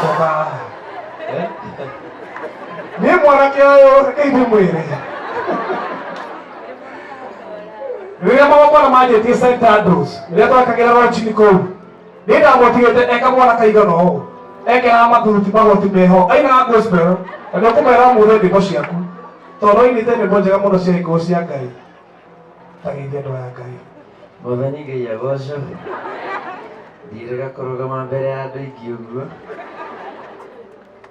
Coka. Eh? Nĩ mwanake ũyũ ndeithie mwĩrĩ. Rĩrĩa magongona manjĩtie St. Andrews, rĩrĩa twekagĩra rocini kũu, nĩ ndamũtigĩte eka mwana kaigana ũũ. Ekĩraga mathuruti magoti meho, ainaga gospel, na nĩ ũkũmera mũthĩ ndĩmbo ciaku. Tondũ ainĩte ndĩmbo njega mũno cia gĩkũũ cia Ngai. Ta geithia andũ aya Ngai. Mwathani Ngai agocwo. Ndirega kũrũgama mbere ya andũ aingĩ ũguo.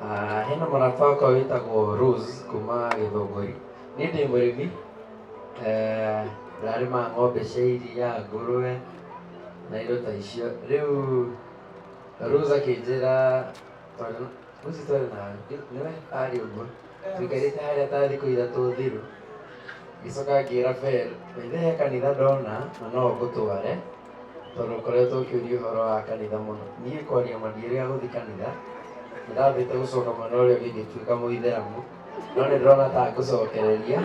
Ah, hena mũrata wakwa wĩtagwo Rose kuma Gĩthũngũri. Niĩ ndĩ mũrĩmi, eh, ndarĩma ng'ombe cia iria, ngũrũwe na indo ta icio. Rĩu Rose akĩnjĩra tondũ Rose twarĩ na nĩwe arĩ ũguo. njikarĩte harĩa ta thikũ ithatũ thiru ngĩcoka ngĩra Bel maithe he kanitha ndona na no ngũtware tondũ ngoretwo ngĩũria ũhoro wa kanitha mũno niĩ kwaria ma ndiũrĩ agũthi kanitha ndĩrambĩte gũcoka mwena ũrĩa ũngĩ ngĩtuĩka mũithĩramu no nĩ ndĩrona ta ngũcokereria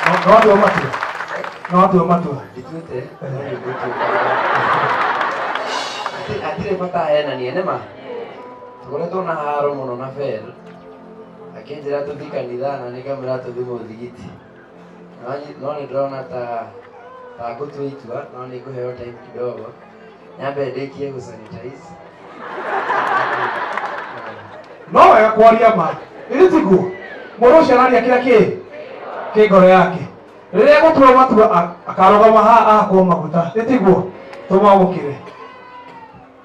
No andũ matua. No andũ matua. ndituĩte no nĩ ngũtuĩka Ati- atirĩ bata henania nĩ ma Tũkoretwo na haro mũno na Fel akĩnjĩra tũthiĩ kanitha na nĩ kamwĩra tũthiĩ mũthigiti no nyi- no nĩ ndĩrona ta ta ngũtua itua no nĩ ngũheo time kidogo nyambe ndĩkie gũsanitize no wega kwaria ma ĩrĩ tiguo mũndũ ũcio araria kĩrĩa kĩ kĩ ngoro yake rĩrĩa gũtua matua a- akarũgama haha ahakwo maguta ĩtiguo tũmwamũkĩre